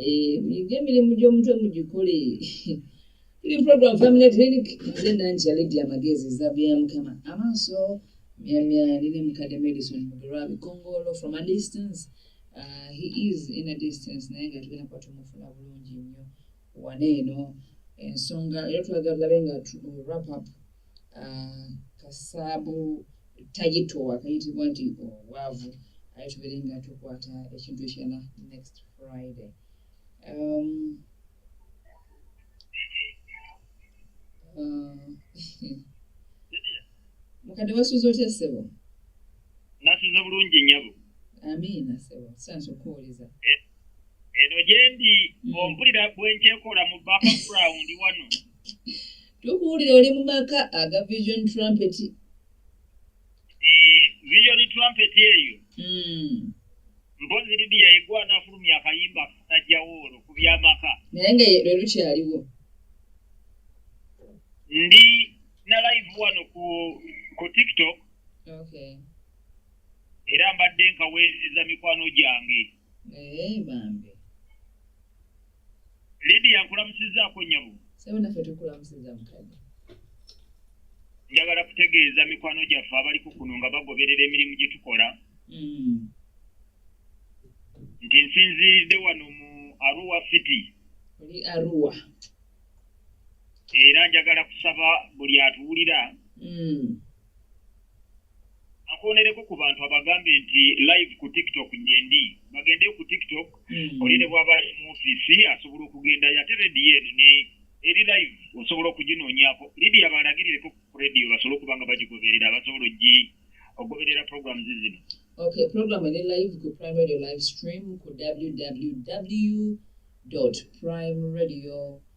eh, muyige emirimu gy'omutwe mugikole tuli program family clinic nze nankya ledi amagezi ezabu ya mukama amaaso myamya nine mukadde medicine mugerwa bikongolo from a distance uh, he is in a distance naye nga tugenda kuba tumufuna bulungi nnyo wana eno ensonga era twagala tulabe nga wrap up ah, kasaabu tayitowa kayitibwa nti obwavu aye tubeere nga tukwata ekintu ekirala next friday um, uh, mukadde wasuuza otya ssebo nasuuza bulungi nyabo amiina ssebo sansa okuwuliza eh, eno gyendi mm. ompulira bwenkyekola mu background wano tukuwulira oli mu maka aga vision trumpet eh, vision trumpet eyo hmm. mpozi lidiya yegwa anafulumya akayimba katajjawo olwo ku byamaka naye nga lwe lukyaliwo ndi na live wano ku ku tiktok okay. era mbadde nkaweereza mikwano gyange Eh, bambi lidiya nkulamusizaako nyabo sebo naffe tukulamusiza mukadde njagala kutegeeza mikwano gyaffe abaliko kuno nga bagoberera emirimu gye tukola mm. nti nsinziiridde wano mu aruwa city oli aruwa era njagala kusaba buli atuwulira mm. akwonereko ku bantu abagambe nti live ku tiktok njendi bagende ku tiktok hmm. oli ne bwaba ali mu ofisi asobola okugendayo ate rediyo eno ne eri live osobola okuginoonyako lidiya balagirireko ku rediyo basobole okuba nga bagigoberera basobola ogi okugoberera programs zino okay program eri live ku prime radio live stream ku www prime radio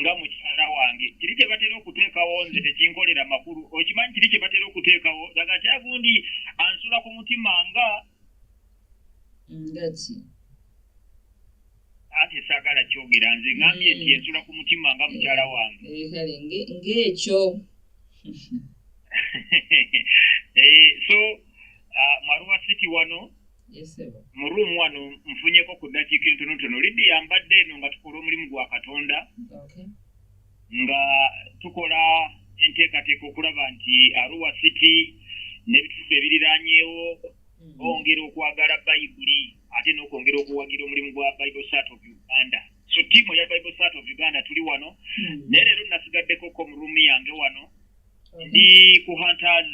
nga mukyala wange kiri kye batera okuteekawo nze tekinkolera makulu okimanyi kiri kye batera okuteekawo daga kyagundi ansula ku mutima nga ngaki ate saagala kyogera nze ngambye nti mm. ensula ku mutima nga mukyala wange eh, kale ng'ekyo eh, so ah, maruwa city wano mu ruumu wano nfunyeko ku ddakiika entonotono lidiya mbadde eno nga tukola omulimu gwa katonda nga tukola enteekateeka okulaba nti aruwa city n'ebitundu ebiriranyeewo hmm. bongera okwagala bayibuli ate n'okwongera okuwagira omulimu gwa bible sat of uganda so tiimu eya bible sat of uganda tuli wano hmm. naye leero nasigaddekoko mu ruumu yange wano ndi ku hunters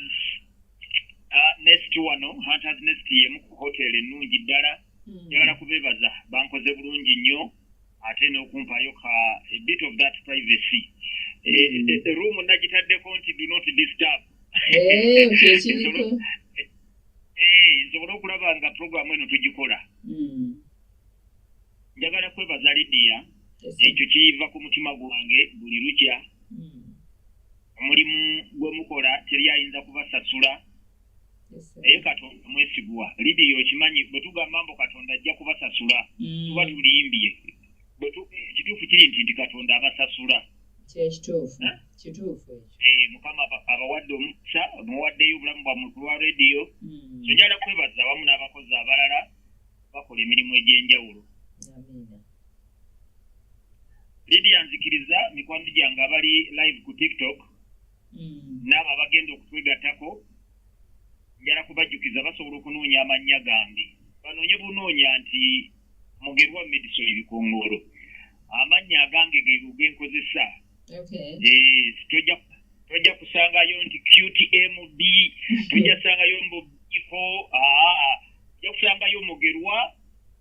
Ah, nest wano hunters nest yemu ku hotel ennungi ddala hmm. njagala kubebaza bankoze bulungi nnyo ate n'okumpaayo ka a bit of that privacy eh, hmm. eh, eh, room nagitaddeko nti do not disturb nsobole okulaba nga programu eno tugikola hmm. njagala kwebaza lidiya ekyo kiyiva ku mutima gwange buli lukya omulimu gwe mukola teri ayinza kubasasula naye katonda mwesigwa lidiyo okimanyi bwe tugamba mbu katonda ajja kubasasula mm. tuba tulimbye ekituufu kiri nti nti katonda abasasula kyekituufu eh? kituufu eh, mukama abawadde omukisa muwaddeyo obulamu bwa muntu lwa rediyo mm. so njala kwebaza awamu n'abakozi abalala bakola emirimu egy'enjawulo lidia nzikiriza mikwano gyange abali live ku tiktok hmm. naabo abagenda okutwegatako njala kubajjukiza basobola okunoonya amannya gange banoonye bunoonya nti mugerwa medison ebikongoolo amannya agange gegenkozesa tojja kusangayo nti qtmb tojja sangayo mbubiko ojja kusangayo mugerwa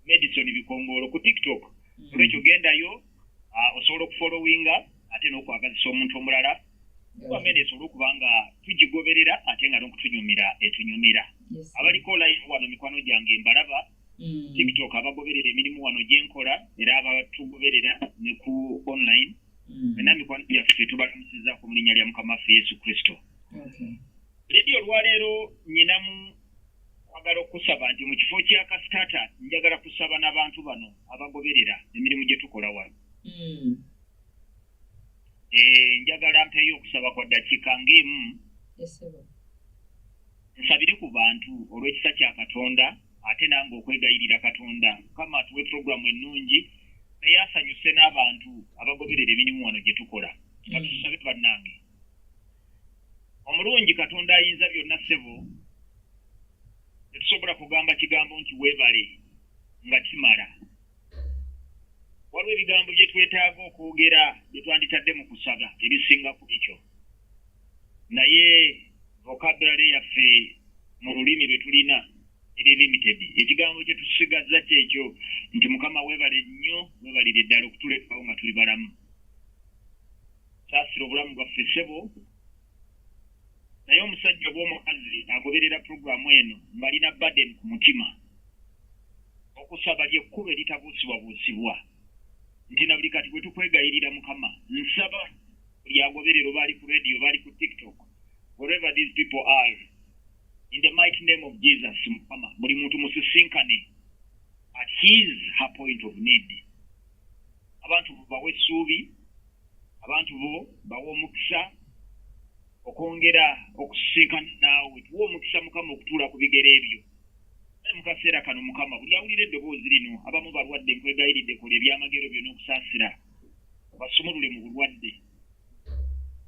medison bikongolo ku tiktok mm. olwekyo gendayo osobola okufolowinga ate n'okwagazisa omuntu omulala wamene esobole okuba nga tugigoberera ate nga nokutunyumira etunyumira abaliko line wano mikwano gyange mbalaba mm. tiktok abagoberera emirimu wano gyenkola era abatugoberera ne ku online mm. ena mikwano gyaffe tubalamusizako mu linnya lya mukama waffe yesu kristo ledi olwaleero nyinamu kwagala okusaba nti mu kifo kya kasitata njagala kusaba n'abantu bano abagoberera emirimu gye tukola wano mm. eh, njagala mpeyo okusaba kwa ddakiika ng'emu nsabire ku bantu olw'ekisa kya katonda ate nange okwegayirira katonda mukama atuwe puroguramu ennungi naye asanyuse n'abantu abagoberera emirimu wano gye tukola katusabe mm. bannange omulungi katonda ayinza byonna ssebo tetusobola kugamba kigambo nti weebale nga kimala waliwo ebigambo bye twetaaga okwogera bye twanditadde mu kusaba ebisinga ku ekyo naye vokaddale yaffe mu lulimi lwe tulina eri limited ekigambo kye tusigazza kyekyo nti mukama weebale nnyo weebalire ddala okutulekawo nga tuli balamu saasira obulamu bwaffe ssebo naye omusajja oba omukazi agoberera puroguramu eno ng'alina baden ku mutima okusaba lyekkuba eritabuusibwabuusibwa nti na buli kati bwe tukwegayirira mukama nsaba buli agoberero bali ku radio bali ku tiktok wherever these people are in the mighty name of jesus mukama buli muntu musisinkane at his her point of need abantu bawe essuubi abantu bo bawe omukisa okwongera okusisinkana naawe tuwa omukisa mukama okutuula ku bigere ebyo mu kaseera kano mukama buli awulira eddoboozi lino abamu balwadde nkwegayiridde kola ebyamagero byona okusaasira basumulule mu bulwadde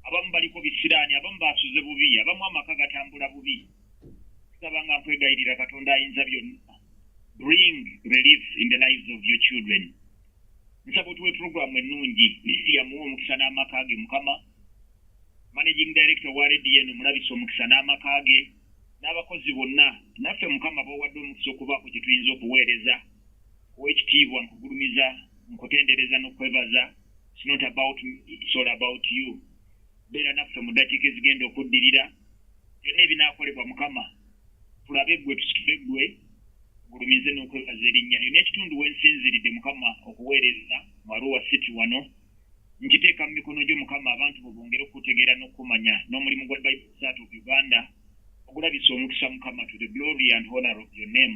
abamu baliko bisiraani abamu basuze bubi abamu amaka gatambula bubi tusaba nga nkwegayirira katonda ayinza byonna bring relief in the lives of your children nsaba otuwe puroguramu ennungi yamuwa omukisa n'amaka ge mukama managing director wa redn omulabisa omukisa n'amaka ge n'abakozi bonna naffe mukama bawadde omukisa okubaako kye tuyinza okuweereza Owekitiibwa nkugulumiza, nkutendereza nokwebaza, it's not about me, it's all about you. Beera naffe mu ddakiika ezigenda okuddirira, byonna ebinaakolebwa Mukama tulabe ggwe tusitule ggwe gulumize n'okwebaza erinnya lyo n'ekitundu we nsinziridde mukama okuweereza mu aruwa city wano nkiteeka mu mikono gyo mukama abantu bwe bongere okutegeera n'okumanya n'omulimu gwa bible sat of uganda ogulabisa omukisa mukama to the glory and honor of your name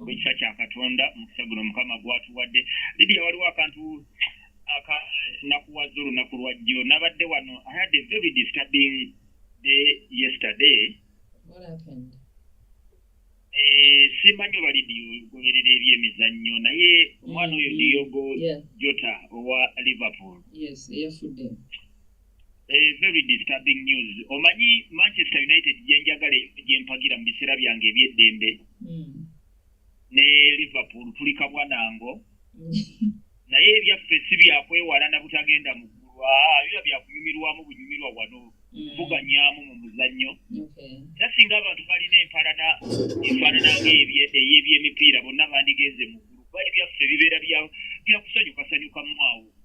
olw'ekisa kya katonda omukisa guno mukama gwatuwadde lidia waliwo akantu akanakuwaza olunaku lwa jjo nabadde wano i had a very disturbing day yesterday eh, simanyi oba lidio goberera eby emizannyo naye omwana oyo mm-hmm. diogo jota owa liverpool Eh, very disturbing news omanyi manchester united gyenjagala gyempagira mu biseera byange ebyeddembe hmm. ne liverpool tuli kabwanango naye ebyaffe si byakwewala na butagenda mu ggulu ah, biba byakunyumirwamu bunyumirwa wano hmm. kuvuganyaamu mu muzannyo era singa abantu balina empalana efaanana ngaeyebyemipiira bonna bandigenze mu ggulu kuba ebyaffe bibeera byakusanyukasanyukamu awo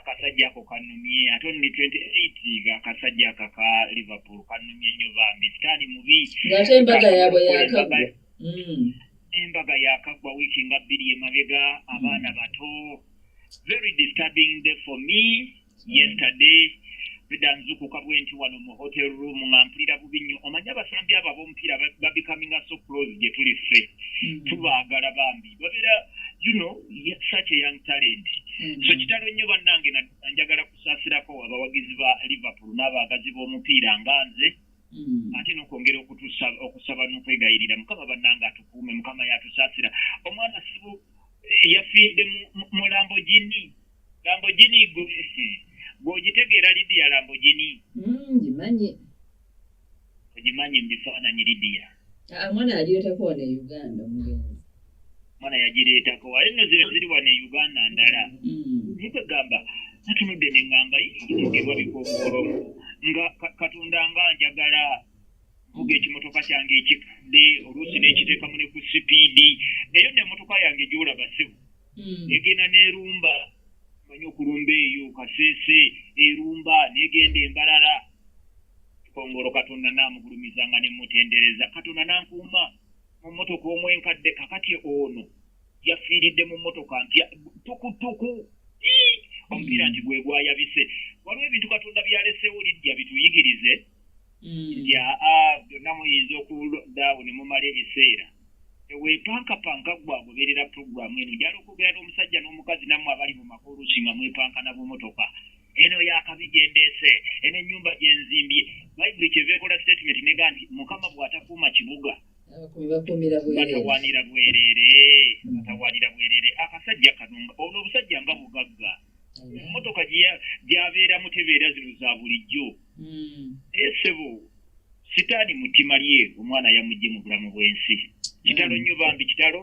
akasajja ako kanumye ate ono ne 28 ga akasajja ako aka liverpool kanumye nnyo bambi sitaani mubi ng'ate embaga yaabwe yakagwa hmm. embaga yakagwa wiiki nga bbiri emabega abaana hmm. bato very disturbing day for me hmm. yesterday beda nzukuka bwenti wano mu hotel room nga mpulira bubi nnyo omanyi abasambi abo ab'omupiira babikaminga so close gye tuli ffe tubaagala bambi babeera you know such a young talent mm. so kitalo nnyo bannange njagala kusaasirako abawagizi ba liverpool n'abaagazi b'omupiira nga nze mm. ate nokwongera okusaba n'okwegayirira mukama bannange atukuume mukama yatusaasira omwana sibu eh, yafiidde mu lambogini lambogini gwogitegeera lidiya lambogini mm, ngimanyi mm, ogimanyi mu bifaananyi lidiya ah, mwana yagireetako wano e uganda omugenzi mwana yagireetako wale no ziba ziri wano e uganda ndala mm. naye kwegamba natunudde ne ngamba yogerwa bikokoolomu nga katonda nga njagala vuga ekimotoka kyange ekikadde oluusi n'ekiteekamu ne ku sipiidi eyo nemotoka yange gyolaba sibu hmm. negenda nerumba manyi okulumba eyo kasese erumba negenda embalala kongolo katonda namugulumizanga nemutendereza katonda nankuuma mu motoka omu enkadde kakati ono yafiiridde mu motoka mpya tukutuku omupiira nti gwegwayabise waliwo ebintu katonda byalesewo lidya bituyigirize mm. yaa byonna muyinza okuldawo ne mumala ebiseera tewepankapanka gwe agoberera puroguramu eno jala okwogera n'omusajja n'omukazi nammwe abali mu makolusi nga mwepanka na bumotoka eno yakabi gyendeese eno ennyumba gyenzimbye bayibuli kyeva ekola statement nega nti mukama bw'atakuuma kibuga batawanira bwerere batawanira bwerere akasajja kano ono obusajja nga bugagga emmotoka gyabeeramu tebeera zino za bulijjo naye sebo sitaani mutima lye omwana yamugye mu bulamu bw'ensi kitalo nnyo bambi kitalo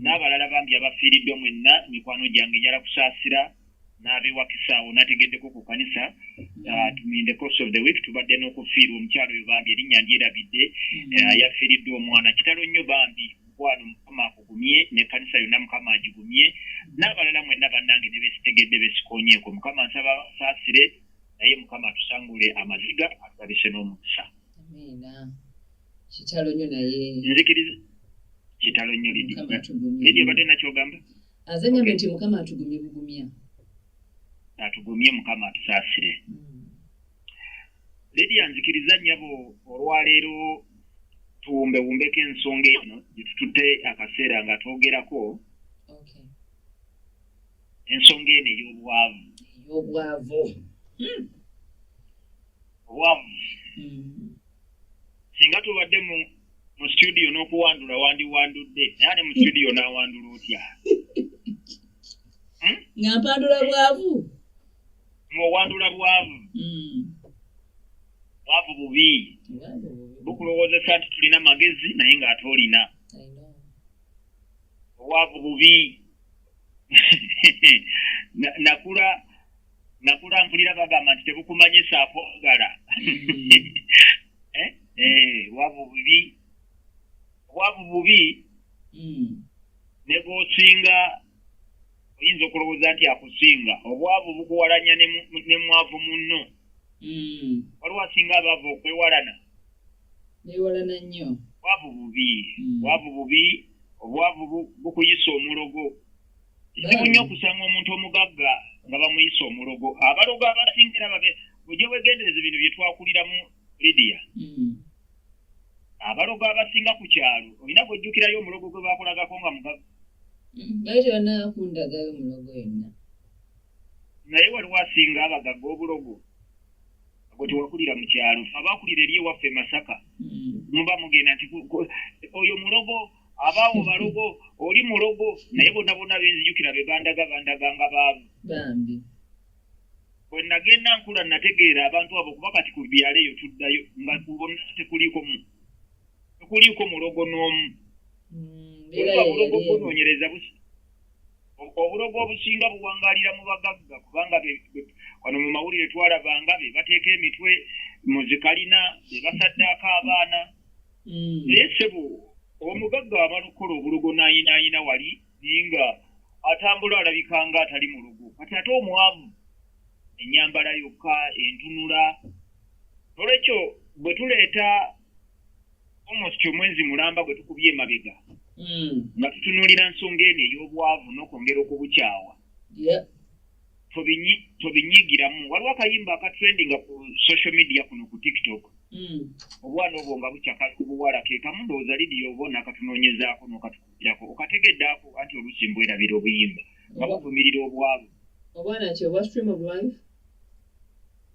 n'abalala bambi abafiiriddwa mwenna mikwano gyange njala kusaasira n'abewakisaawo nategeddeko ku kanisa uh, in the course of the week tubadde n'okufiirwa omukyalo oyo bambi erinnya ndyerabidde mm. uh, yafiiriddwa omwana kitalo nnyo bambi mukwano mukama akugumye nekanisa yonna mukama agigumye n'abalala mwenna bannange ne besitegedde besikonyeeko mukama nsaba saasire naye mukama atusangule amaziga atulabise n'omukisa kitalo nyo naye nzikiriza kitalo nyo lidi lidi obadde nakyogamba azanyambe nti mukama atugumye bugumya atugumye mukama atusaasire hmm. lidi anzikiriza nyabo olwaleero tuwumbewumbeko ensonga eno gyetututte akaseera nga twogerako ensonga eno ey'obwavu ey'obwavu hmm. obwavu hmm. singa tubadde mu mu situdiyo n'okuwandula wandiwandudde naye ate mu situdiyo n'awandula otya hmm? nga mpandula bwavu ng'owandula bwavu bwavu bubi bukulowozesa nti tulina magezi naye ng'ate olina obwavu bubi nakula nakula mpulira bagamba nti tebukumanyisa akwagala hmm. eh, eh, wabu bubi wabu bubi hmm. ne bwosinga oyinza okulowooza nti akusinga obwavu bukuwalanya ne mwavu munno hmm. waliwo asinga abaavu okwewalana newalana nnyo bwavu bubi hmm. bwavu bubi obwavu bukuyisa omulogo kizibu nnyo okusanga omuntu omugagga nga bamuyisa omulogo abalogo abasingira babe oja wegendereza ebintu byetwakuliramu lidiya hmm. abalogo abasinga ku kyalo olina gwejjukirayo omulogo gwe bakulagako nga mugagga hmm, bati onakundagayo omulogo yonna naye waliwo asinga abagagga obulogo gwe tewakulira mu kyalo fe abakulira eri ewaffe masaka hmm. muba mugenda nti oyo mulogo abaawo balogo oli mulogo naye bona bona benzijukira be bandaga bandaga nga baavu bwe nagenda nkula nategeera abantu abo kuba kati ku byalo eyo tuddayo nga kubona tekuliiko mu tekuliiko mulogo n'omu obulogo mm, bunoonyereza busi obulogo obusinga buwangalira mu bagagga kubanga wano mu mawulire twalabanga be bateeka emitwe mu zikalina be basaddaako abaana mm. naye sebo omugagga abalukola obulogo nayinayina wali naye nga atambula alabika nga atali mu lugo kati ate omwavu enyambala yokka entunula nolwekyo bwe tuleeta almost omwezi mulamba gwe tukubye emabega hmm. nga tutunuulira nsonga eno ey'obwavu n'okwongera okubukyawa tobinyigiramu waliwo akayimba akatrendinga ku social media kuno ku tiktok hmm. obwana obwo nga bukyakakubuwala kekamu ndowooza lidiyo obona akatunoonyezaako nokatukugirako okategeddeako anti oluusi mbwerabira obuyimba nga buvumirira obwavu obwana ki obwa stream of life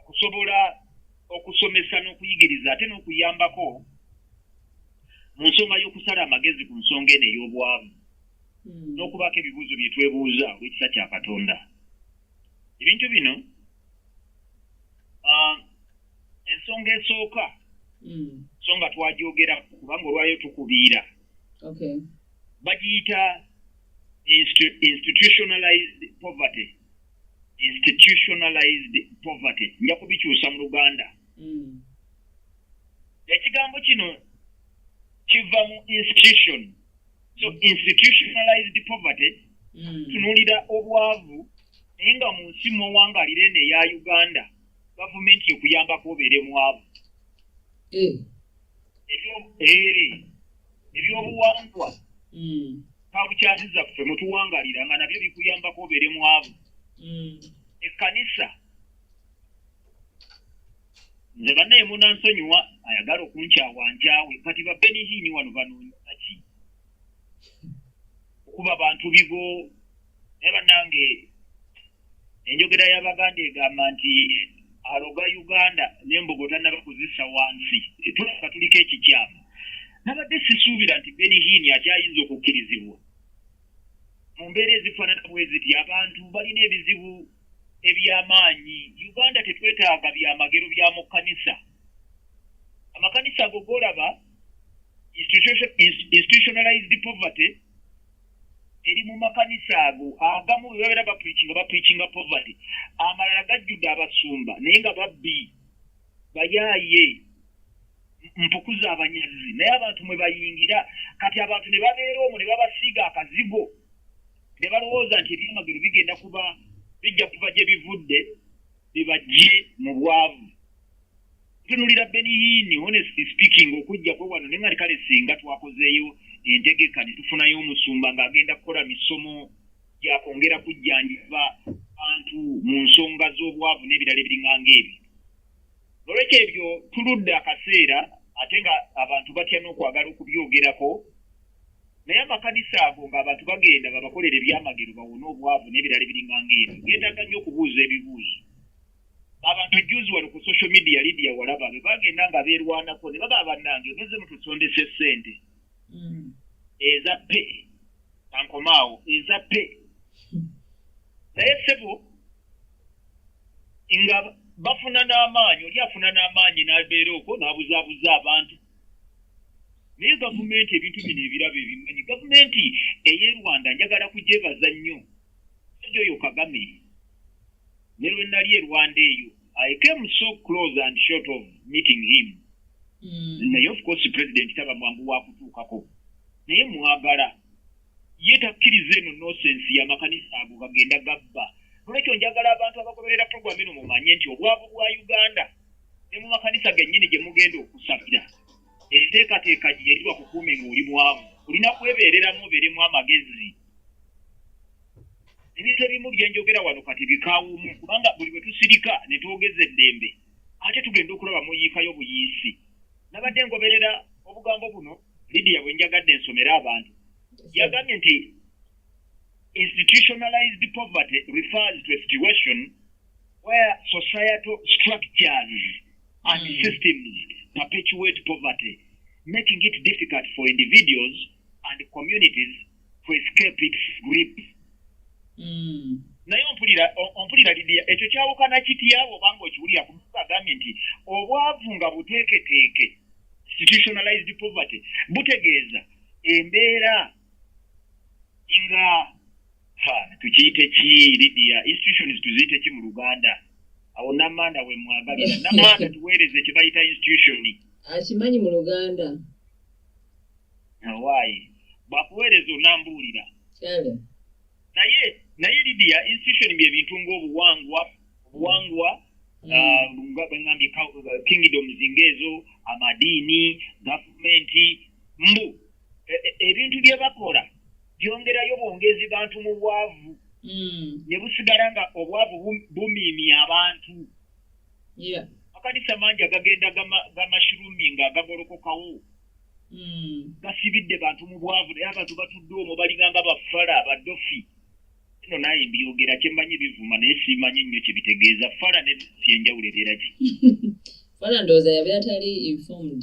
okusobola okusomesa n'okuyigiriza ate n'okuyambako mu nsonga y'okusala amagezi ku nsonga eno ey'obwavu hmm. n'okubaako ebibuuzo bye twebuuza olw'ekisa kya katonda ebintu bino ah, ensonga esooka hmm. so nga twajogera kubanga olwayo tukubiira bagiyita institutionalized poverty institutionalized poverty nja kubikyusa mu luganda mm. ekigambo kino kiva mu institution so mm. institutionalized poverty mm. tunulira obwavu naye nga mu nsi muwangalira eno eya uganda gavumenti ekuyambako obeere mwavu eh. eri ebyobuwangwa hmm. kabukyasiza ffe mutuwangalira nga nabyo bikuyambako obeere mwavu hmm. ekkanisa nze banaye munansonyiwa ayagala okunkyawa nkyawe kati babenihiini wano banoonyaki okuba bantu bibo naye banange enjogera y'abaganda egamba nti aloga uganda nembogo tanaba kuzisa wansi tulaba tuliko ekikyamu nabadde sisuubira nti benihini akyayinza okukkirizibwa mu mbeera ezifaanana bweziti abantu balina ebizibu ebyamaanyi uganda tetwetaaga byamagero bya mu kkanisa amakanisa ago golaba institutionalized poverty eri mu makanisa ago agamu webabeera bapricinga bapricinga poverty amalala gajjudde abasumba naye nga babbi bayaaye mpukuza abanyazi naye abantu mwe bayingira kati abantu ne babeera omwo ne babasiiga akazigo ne balowooza nti ebyamagero bigenda kuba bijja kuba gye bivudde bebajje mu bwavu tunulira beniyiini honest speaking okujjako wano naye nga likale singa twakozeeyo entegeka ne tufunayo omusumba ng'agenda kukola misomo gyakwongera kujjanjiba bantu mu nsonga z'obwavu n'ebirala ebiringanga ebyo nolwekyo ebyo tuludde akaseera ate nga abantu batya n'okwagala okubyogerako naye amakanisa ago ng'abantu bagenda babakolera ebyamagero bawone obwavu n'ebirala ebiringa ng'ebyo geetaaga nnyo okubuuza ebibuuzo abantu ejjuzi wano ku social media lidia walaba be bagenda nga beerwanako ne baba bannange meze mutusondesa essente mm. eza pe kankomaawo eza pe naye ssebo nga bafuna n'amaanyi oli afuna n'amaanyi n'abeera okwo n'abuzaabuza abantu naye gavumenti ebintu bino ebirabo ebimanyi gavumenti eye rwanda njagala kugyebaza nnyo sajja oyo kagame ne lwe nali e rwanda eyo i came so close and short of meeting him mm. naye of course president taba mwangu wakutuukako naye mwagala ye takkiriza eno nosensi yamakanisa ago gagenda gabba nolwekyo njagala abantu abagoberera programu eno mumanye nti obwavu bwa uganda ne mu makanisa gennyini gye mugenda okusabira enteekateeka gye yeriwa kukuumi ng'oli mwavu olina kwebeereramu obeeremu amagezi ebintu ebimu bye njogera wano kati bikawumu kubanga buli bwe tusirika ne twogeza eddembe ate tugenda okulaba muyiikayo buyiisi nabadde ngoberera obugambo buno lidiya bwe njagadde ensomera abantu yagambye nti institutionalized poverty refers to a situation where societal structures and mm. systems perpetuate poverty, making it difficult for individuals and communities to escape its grip. Mm. naye ompulira ompulira lidia ekyo kyawukana kityawo obanga okiwulira kumuntu agambye nti obwavu nga buteeketeeke institutionalized poverty butegeeza embeera nga ha tukiyite ki lidia institutions tuziyite ki mu luganda awo namanda we mwagalira namanda tuweereze kye bayita institution akimanyi mu luganda awaayi bakuweereza onambuulira naye naye lidia institution bye bintu ng'obuwangwa obuwangwa mm. ah, nga bwengambye kingdoms ng'ezo amadiini gavumenti mbu e, e, ebintu bye bakola byongerayo bwongezi bantu mu bwavu hmm. ne busigala nga obwavu bumiimi abantu akanisa mangi agagenda gamashirumi nga gagolokokawo hmm. gasibidde bantu mu bwavu naye abantu batudde omwo balinganga bafala badofi no naye mbyogera kyemmanyi bivuma naye simanyi nnyo kyebitegeeza fala ne syenjawulo ebeera ki fala ndowooza yabeera tali informed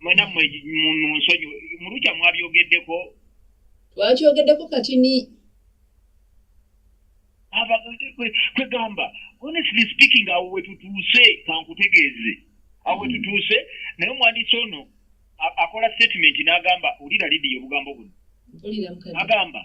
mwena mwe munsonyi mulukya mwabyogeddeko twakyogeddeko kati ni kwegamba honestly speaking awo wetutuuse kankutegeeze awo wetutuuse naye omwandisi ono akola statement n'agamba olira lidiyo obugambo buno agamba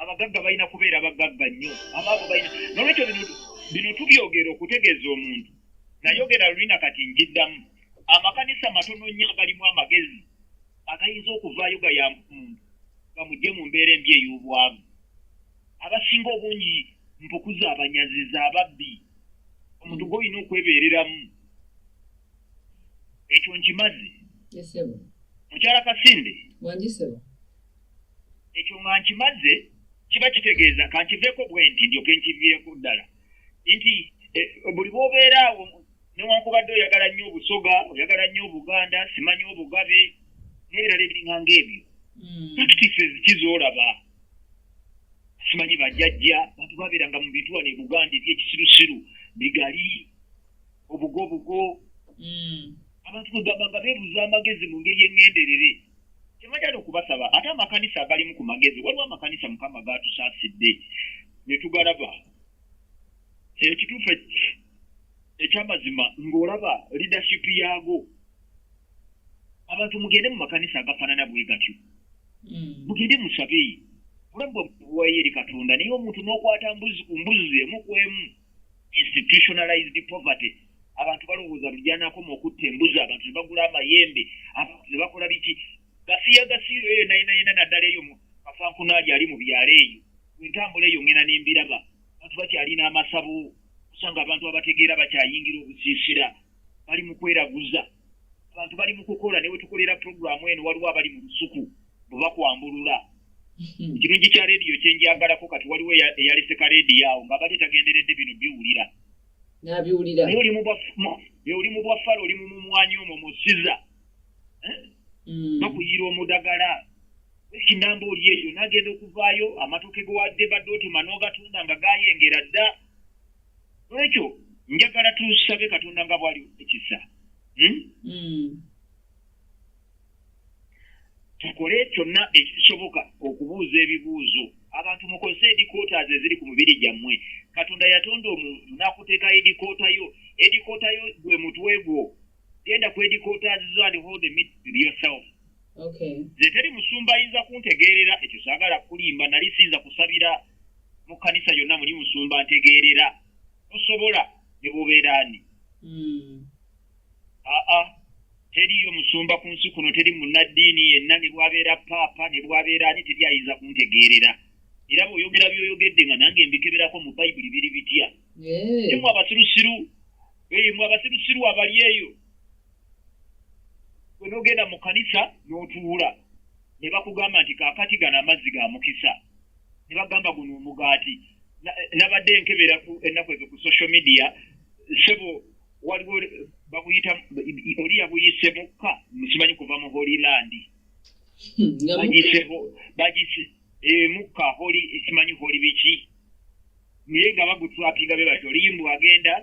abagagga balina kubeera bagagga nnyo abaavu balina nolwekyo bino tubyogera okutegeeza omuntu nayogera lulina kati njiddamu amakanisa matono nnyo agalimu amagezi agayinza okuvaayo gayamba omuntu gamugye mu mbeera embi ey'obwavu abasinga obungi mpukuza abanyaziza ababbi omuntu gwolina okwebeereramu ekyo nkimazi mukyala kasinde ekyo nga nkimaze kiba kitegeeza kankiveeko bwe nti ndyoke nkiviireko ddala nti eh, buli bwobeera awo newankubadde oyagala nnyo obusoga oyagala nnyo obuganda simanyi obugabe nebirala ebiringa ngaebyo hmm. practices kizoolaba simanyi bajajja bantu babeeranga mu bituwa ne buganda ebyekisirusiru bigali obugobugo hmm. abantu kwegamba nga beebuza amagezi mu ngeri eŋŋenderere tebajala okubasaba ate amakanisa agalimu ku magezi waliwo amakanisa mukama gaatusaasidde ne tugalaba ekituufu ekyamazima ng'olaba leadership yaago abantu mugende mu makanisa agafaanana bwe gatyo hmm. mugende musabe olabwa buwayo eri katonda naye omuntu n'okwata mbuzi ku mbuzi emu ku emu institutionalized poverty abantu balowooza lujanakoma okutta embuzi abantu ne bagula amayembe abantu ne bakola biki gasiya gasiiro eyo nayina yina naddala eyo kafankunaali ali mu byalo eyo entambula eyo ngena nembiraba abantu bakyalina amasabo kusanga abantu abategeera bakyayingira obusiisira bali mu kweraguza abantu bali mu kukola ne wetukolera puroguramu eno waliwo abali mu lusuku bwe bakwambulula hmm. ekirungi kya rediyo kyenjagalako kati waliwo eyalese ka rediyo awo nga bali tagenderedde bino biwulira nabiwulira oli mu bwaffala oli mu mumwanyi omwo musiza eh? hmm. bakuyiira omudagala ekinamba oli eyo nagenda okuvaayo amatoke gewadde badde otema n'ogatunda nga gayengera dda olwekyo njagala tusabe katonda nga bwali ekisa hmm? hmm. tukole kyonna ekisoboka okubuuza ebibuuzo abantu mukozese edikotas eziri ku mubiri gyammwe katonda yatonda omuntu nakuteeka edikoota yo edikoota yo gwe mutwe gwo genda ku headquarters zo and hold the meet with yourself okay nze teri musumba ayinza kuntegeerera ekyo saagala kulimba nali siyinza kusabira mu kanisa yonna muli musumba ntegeerera tosobola ne bubeera ani hmm. aa teriyo musumba ku nsi kuno teri munnaddiini yenna ne bwabeera paapa ne bwabeera ani teri ayinza kuntegeerera era bweoyogera byoyogedde nga nange mbikeberako mu bayibuli biri bitya yemwe abasirusiru yemwe abasirusiru abali eyo gwe nogenda mu kanisa n'otuula ne bakugamba nti kakati gano amazzi ga mukisa ne bagamba guno omugaati nabadde nkebera ennaku ezo ku social media sebo waliwo bakuyita oli yabuyise mukka simanyi kuva mu holyland hmm, bagise eh, mukka holi simanyi holi biki naye nga bagutrapinga be batyo olimbu agenda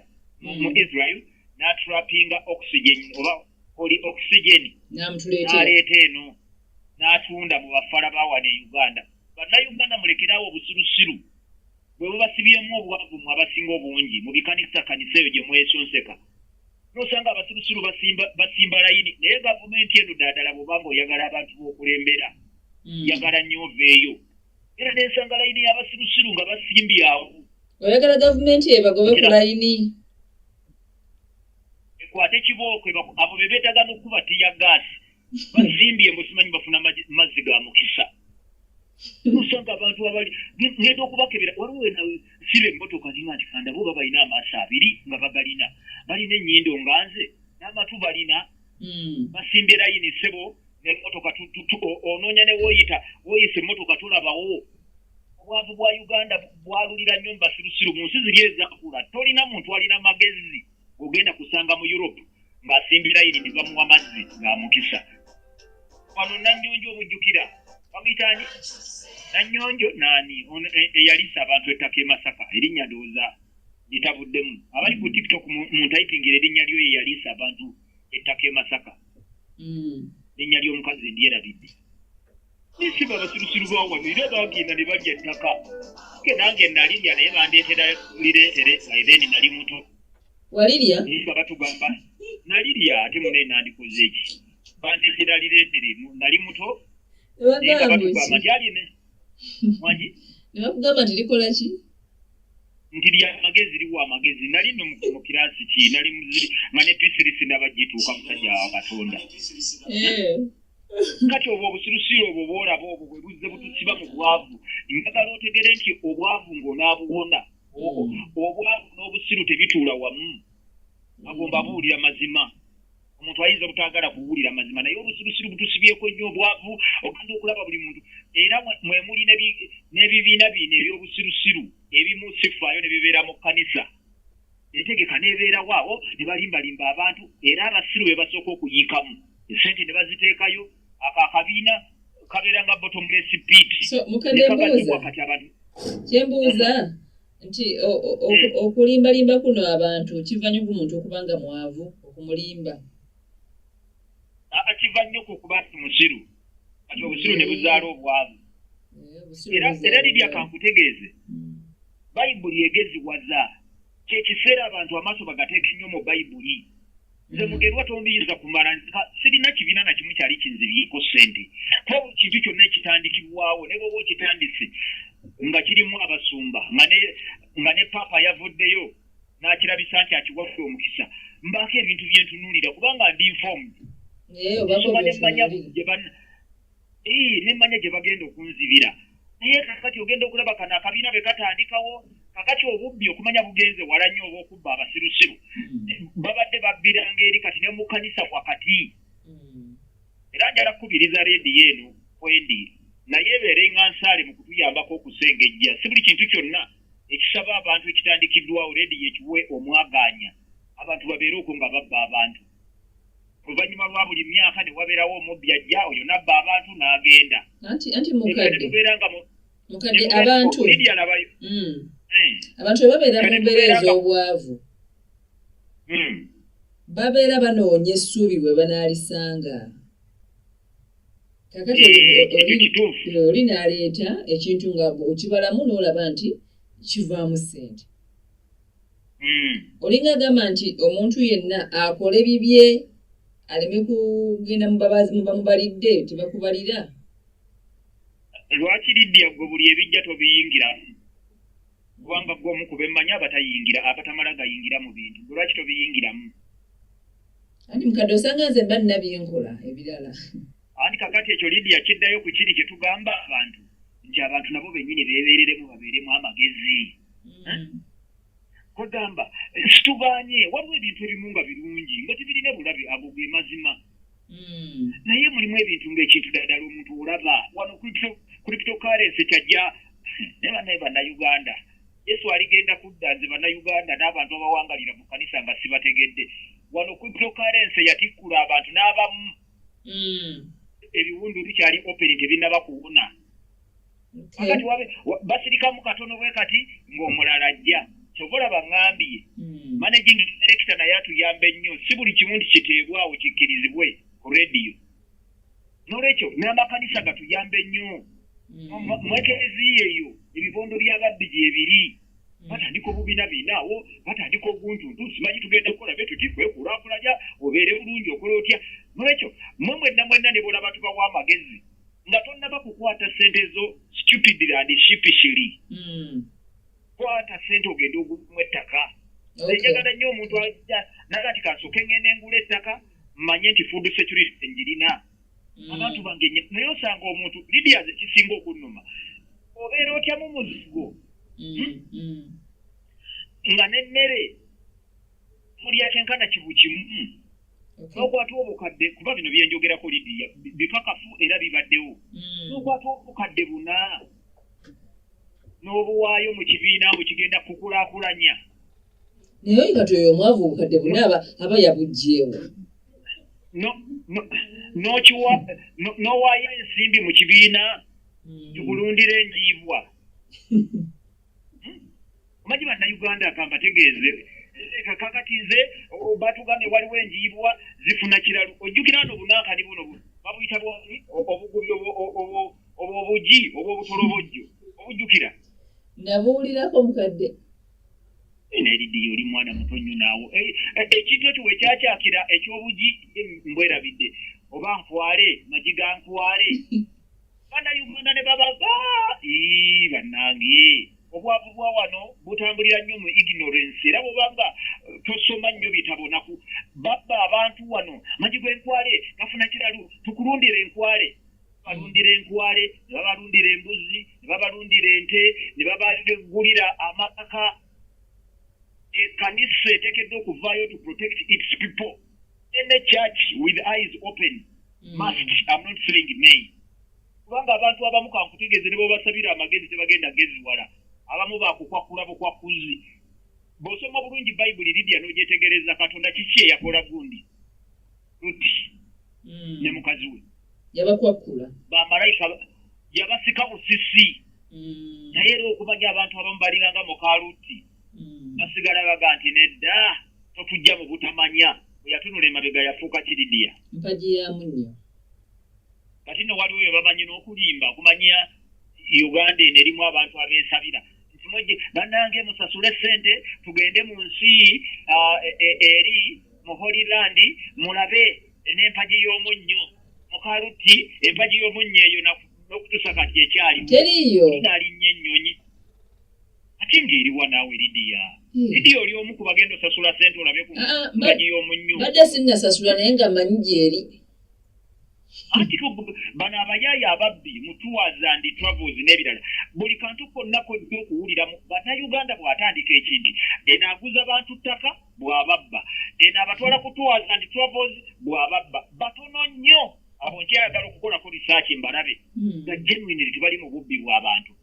mu mm. israel n'atrapinga oxygen oba oli oxygen n'aleeta eno n'atunda mu bafala bawana e uganda bannayuganda mulekerawo obusirusiru bwe bubasibyemu obwavu mu abasinga obungi mu bikanisa kanisa eyo gye mwesonseka nosanga abasirusiru basimba layini naye gavumenti eno daadala bwobanga oyagala abantu b'okulembera mm. yagala nnyo oveeyo era nensanga layini y'abasirusiru nga basimbye awo oyagala gavumenti yebagobe ku layini ekwate kibooko abo be beetaga n'okukuba tiya gaasi basimbye musimanyi bafuna mazzi ga mukisa nosanga abantu abali ngenda okubakebera waliwo ena siba emmotoka ninga nti kandabo oba balina amaaso abiri nga bagalina balina ennyindo nga nze n'amatu balina hmm. basimbye layini ssebo nemotoka onoonya ne woyita woyisa emmotoka tulabawo obwavu bwa uganda bwalulira nnyo mu basirusiru mu nsi ziri ezakula tolina muntu alina magezi ogenda kusanga mu europe ng'asimbye layini ne bamuwa mazzi ng'amukisa wano nanyonjo omujjukira bamuyitaani nanyonjo naani e, eyalisa abantu ettaka e masaka erinnya ndowooza bitabuddemu abali ku tiktok mu ntayipingira erinnya lyo ye yaliisa abantu ettaka e masaka hmm. erinnya ly'omukazi endyerabidde nisiba abasirusiru bawano era bagenda ne balya ettaka ke nange nalirya naye bandeetera lireetere aibeni nali muto walirya nisiba batugamba nalirya ate munaye nandikoze eki bandeetera lireetere nali muto naye nga batugamba nti aline wangi ne bakugamba nti likola ki nti lya magezi liwa amagezi nali no mu kirasi ki nali muziri nga ne pisirisi ndaba gituuka musajja wa katonda eh. kati obwo obusirusiru obwo bwolaba obwo bwe buzze butusiba mu bwavu njagala otegere nti obwavu ng'onaabuwona obwavu n'obusiru tebituula wamu agomba buwulira mazima omuntu ayinza obutagala kuwulira mazima naye obusirusiru butusibyeko nnyo obwavu ogenda okulaba buli muntu era mwemuli n'ebibiina biina ebyobusirusiru ebimu sifaayo ne bibeera mu kkanisa entegeka n'ebeerawo awo ne balimbalimba abantu era abasiru be basooka okuyiikamu esente ne baziteekayo ako akabiina kabeera nga botomless pit kati abantu kyembuuza nti hmm. okulimbalimba kuno abantu kiva nyo ku muntu okuba nga mwavu okumulimba kiva nyo ku kuba nti musiru kati obusiru ne buzaala obwavu eh, era lirya kankutegeeze hmm. bayibuli egeziwaza kyekiseera abantu amaaso bagateeka nnyo mu bayibuli nze mugerwa tondiyiza kumala sirina kibiina na kimu kyali kinzibyeko ssente ko kintu kyonna ekitandikibwawo ne bwoba okitandise nga kirimu abasumba nga ne paapa yavuddeyo n'akirabisa nti akiwadde omukisa mbaako ebintu byentunuulira kubanga ndi nfoomu eh, nsoma ne manya ne mmanya gye bagenda okunzibira naye kakati ogenda okulaba kano akabiina be katandikawo kakati obubbi okumanya bugenze wala nnyo oba okubba abasirusiru hmm. babadde babbiranga eri kati ne mu kanisa wakati hmm. era njala kukubiriza rediyo eno kwendi naye ebeere nga nsaale mu kutuyambako okusengejja si buli kintu kyonna ekisaba abantu ekitandikiddwawo rediyo ekiwe omwagaanya abantu babeere okwo nga babba abantu oluvannyuma lwa buli myaka ne wabeerawo omubbi ajja oyo nabba abantu n'agenda tubeera nga mukadde abantu hmm. hmm. abantu ebabeera mu mbeera ez'obwavu hmm. babeera banoonya essuubi bwe banaalisanga kakati eh, oli n'aleeta ekintu nga okibalamu n'olaba nti kivaamu ssente hmm. olinga agamba nti omuntu yenna akole bibye aleme kugenda mubamubalidde tebakubalira lwaki lidia gwe buli ebijja tobiyingira kubanga gwe omu kubemmanya abatayingira abatamala gayingira mu bintu gwe lwaki tobiyingiramu anti mukadde osanga nze mba nina byenkola ebirala anti kakati ekyo lidia kiddayo ku kiri kye tugamba abantu nti abantu nabo bennyini beebeereremu babeeremu amagezi kwegamba mm. situgaanye waliwo ebintu ebimu nga birungi nga tebirina bulabe ago ge mazima mm. naye mulimu ebintu ngaekintu daddala omuntu olaba wano kulipitokarensi kyajja naye banaye bannayuganda yesu aligenda kudda nze bannayuganda n'abantu abawangalira mu kanisa nga sibategedde wano kulipitokarensi yatikkula abantu n'abamu hmm. ebiwundu bikyali openi tebinaba kuwuna akati wabe basirikamu katono bwe kati ng'omulala ajja kyova olaba ŋŋambye hmm. managing director naye atuyambe nnyo si buli kimu nti kiteebwawo kikkirizibwe ku rediyo n'olwekyo n'amakanisa gatuyambe nnyo hmm. mwekereziya eyo ebibondo by'ababbi gyebiri batandika obubina bina awo batandika oguntuntu simanyi tugenda kukola be tuti kwekulakulanya obeere bulungi okola otya nolwekyo mwe mwenna mwenna ne bolaba tubawa amagezi nga tonnaba kukwata sente zo stupidly and shipishili hmm. kwata sente ogenda ogumu ettaka enjagala nnyo omuntu aja naga nti kasoke ngenda engula ettaka mmanye nti food security ngirina mm. abantu bange naye osanga omuntu lidia zekisinga okunuma obeera otya mu muzigo mm, hmm? mm. nga nemmere mulya kyenkana kibu kimu hmm. nokwata obukadde kuba bino byenjogerako lidia bikakafu era bibaddewo nokwata obukadde buna n'obuwaayo mu kibiina mbu kigenda kukulakulanya naye oyinga tyoyo omwavu obukadde buna aba yabugjeewo n'owaayo ensimbi mu kibiina hmm. tukulundira enjiibwa omanyi hmm? bannayuganda kambategeeze kakati nze batugambye waliwo enjiibwa zifuna kiralu ojjukira no obunankani buno babuyita bwani obugubi obwobugi obwobutolobojjo obujjukira nabuwulirako mukadde nelidi oli mwana muto nnyo naawo eh, eh, ekintu ekyo wekyakyakira ekyobugi eh, mbwerabidde oba nkwale magi ga nkwale bana uganda ne babaga banange obwavu bwa wano butambulira nnyo mu ignorance era bwobanga tosoma nnyo bitabo naku babba abantu wano magi gwenkwale gafuna kiralu tukulundira enkwale balundira enkwale ne babalundira embuzi ne babalundira ente ne babagulira amaka ekanisa etekeddwa okuvaayo to protect its people any church with eyes open mm. must am not saying nay kubanga abantu abamu kankutegeeze ne babasabira amagezi tebagenda geziwala abamu bakukwakula bukwakuzi bw'osoma bulungi bayibuli lidia n'ogyetegereza katonda kiki eyakola gundi luti mm. ne mukazi we yabakwakkula bamalayika yabasika busisi mm. naye era okumanya abantu abamu balinganga mukaluti mm. basigala baga nti nedda totujja mu butamanya eyatunula emabega yafuuka kiridiya mpagi yamu nnyo kati no waliwo bye bamanyi n'okulimba okumanya uganda eno erimu abantu abeesabira banange musasule sente tugende mu nsi ah, e, e, eri mu holyland mulabe n'empagi y'omunnyo mukaluti empagi y'omunnyo eyo n'okutusa kati ekyalimunalinnya ennyonyi ate ng'eriwa naawe lidiya hmm. lidiya oli omu ku bagenda osasula sente olabe ku ah, ah, mpagi y'omunnyo badde sinnasasula naye nga manyi gyeri anti bano abayaaye ababbi mutuwaza ndi travels n'ebirala buli kantu konna kojja okuwuliramu bannayuganda bw'atandika ekindi eno aguza bantu ttaka bw'ababba eno abatwala kutuwaza ndi travels bw'ababba batono nnyo abo nkyayagala okukolako risaaki mbalabe hmm. nga genuinely tebali mu bubbi bw'abantu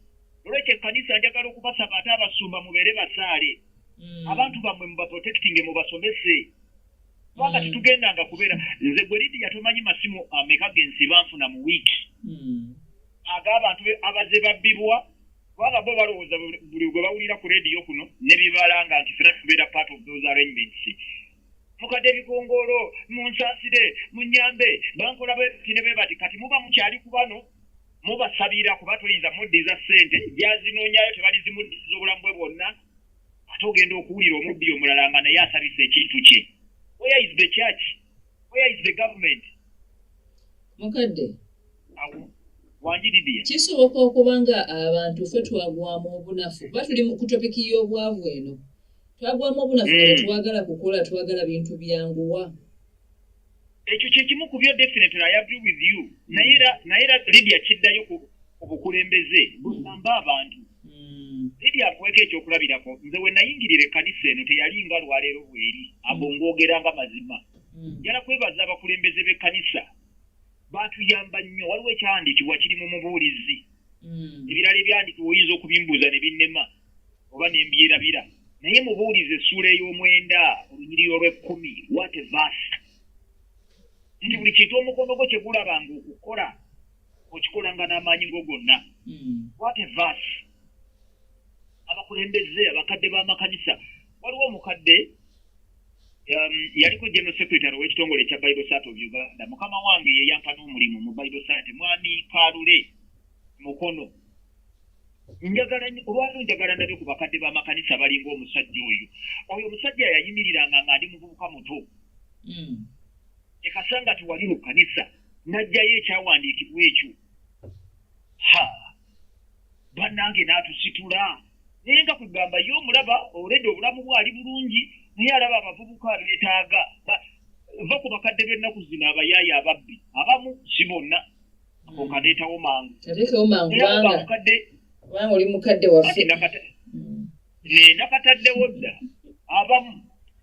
olwekyo ekkanisa njagala okubasaba ate abasumba mubeere basaale hmm. abantu bammwe mubaprotectinge mubasomese kubanga mm. tetugendanga kubeera nze gwe lidiya tomanyi masimu ameka ah, gensi banfuna mu wiiki mm. ag'abantu abaze babbibwa kubanga bo balowooza buli gwe bawulira ku rediyo kuno ne bibalanga nti fena tubeera part of those arrangements mukadde ebigongoolo munsaasire munyambe bankola bkine be bati kati muba mukyali ku bano mubasabira kuba toyinza muddiza ssente gyazinoonyayo tebalizimuddiza obulamu bwe bwonna ate ogenda okuwulira omubbi omulala nga naye asabisa ekintu kye where is the church where is the government mukadde wanjiridia kisoboka okuba nga abantu fe twagwamu obunafu kuba tuli mu kutopiki y'obwavu eno twagwamu obunafu nga hmm. tetwagala kukola twagala bintu byanguwa ekyo kyekimu ku byo definitely i agree with you naye era naye era lidia kiddayo ku obukulembeze busamba abantu hmm. lidia akuweka ekyokulabirako nze we nayingirira ekkanisa eno teyali nga lwaleero bweri abo hmm. ngoogera nga mazima hmm. njala kwebaza abakulembeze b'ekkanisa batuyamba nnyo waliwo ekyandikibwa kiri mu mubuulizi ebirala ebyandikibwa oyinza okubimbuuza ne binnema oba ne mbyerabira naye mubuulize essuula ey'omwenda olunyiriri olw'ekkumi wate vaasi nti buli kintu omukono gwo kye gulaba nga okukola okikolanga n'amaanyi go gonna hmm. wate vaasi abakulembeze abakadde b'amakanisa waliwo omukadde um, yaliko general secretary ow'ekitongole ekya bible sat of uganda mukama wange yeyampa n'omulimu mu bible sat mwami kalule mukono njagala olwali njagala ndabe ku bakadde b'amakanisa balinga omusajja oyo oyo omusajja yayimiriranga nga ndi muvubuka muto hmm. ekasanga tiwali mu kanisa n'ajjayo ekyawandiikibwa ekyo ha bannange n'atusitula naye nga kugamba ye omulaba olede obulamu bwali bulungi naye alaba abavubuka abeetaaga va ku bakadde b'ennaku zino abayaayo ababbi abamu si bonna ako kadeetawo mangu kadeetawo mangu kubanga mukadde kubanga oli mukadde waffe mm. nakataddewo dda abamu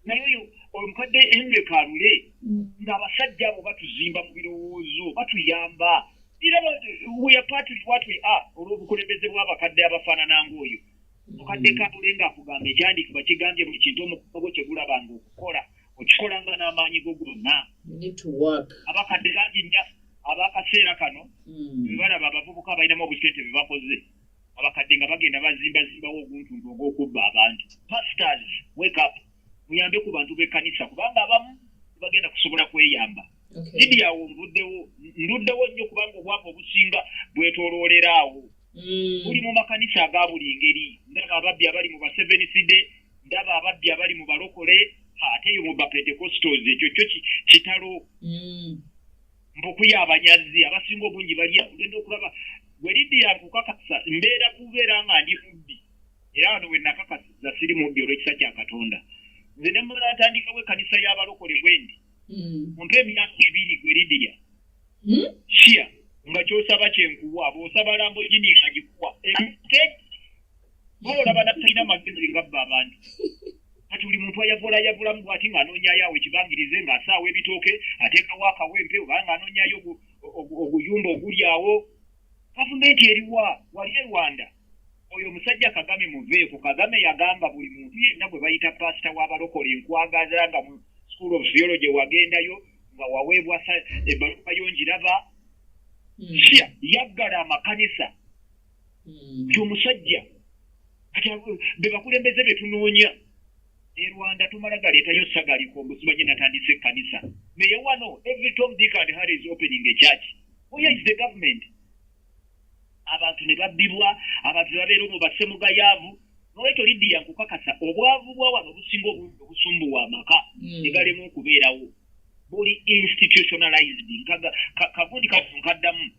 naye oyo omukadde henry kalule mm. ng'abasajja abo batuzimba mu birowoozo batuyamba era weyapatwatwe a olw'obukulembeze bw'abakadde abafaanana ng'oyo mukadde mm. kalule ng'akugamba ekyandikibwa kigambye buli kintu omukono gwo kyegulabanga okukola okikolanga n'amaanyi go gonna abakadde bangi abakaseera kano hmm. bebalaba abavubuka abalinamu obusente bebakoze abakadde nga bagenda bazimbazimbawo oguntuntu ogwokubba abantu pastors wake up muyambe ku bantu bekanisa kubanga abamu bagenda kusobola kweyamba idi awo nvuddewo nduddewo nnyo kubanga obwavu obusinga bwetoloolera awo hmm. buli mu makanisa aga buli ngeri ndaba ababbi abali mu baseveniside ndaba ababbi abali mu balokole ate eyo mu bapentecostals ekyo kyo kitalo hmm. mpukuya abanyazzi abasinga obungi balya ogenda okulaba welidi yakukakasa mbeera kubeera nga ndi mubbi era wano wenakakasiza siri mubbi olwekisa kya katonda nze nemala atandikawo ekanisa y'abalokole bwendi hmm. mumpe emyaka ebiri gwelidiya hmm? shia nga kyosaba kyenkuwa bwosaba lambo gini agikuwa Mawona bana talina magezi ngabba abantu. Kati buli muntu ayavula ayavula mu bwati nga anonya yawo ekibangirize nga asaawo ebitooke ateeka wa kawempe oba nga anonya yo oguyumba oguli awo. Gavumenti eriwa wali e Rwanda. Oyo musajja Kagame muveeko Kagame yagamba buli muntu yenna gwe bayita pastor wa balokole nkwagaza nga mu school of theology wagendayo nga waweebwa ebbaluka yo njiraba. Hmm. Shia yaggala amakanisa. hmm. nti omusajja bebakulembeze betunoonya e rwanda tumala galeetayo sagalikombo sibaje natandisa ekkanisa naye wano every tom dick and harry is opening a church where is the government abantu ne babbibwa abantu ne babeera omu basse mugayaavu nolwekyo lidiya nkukakasa obwavu bwa wano obusinga obungi obusumbuwa amaka hmm. ne galemu okubeerawo buli institutionalized kagundi kafunkaddamu ka, ka,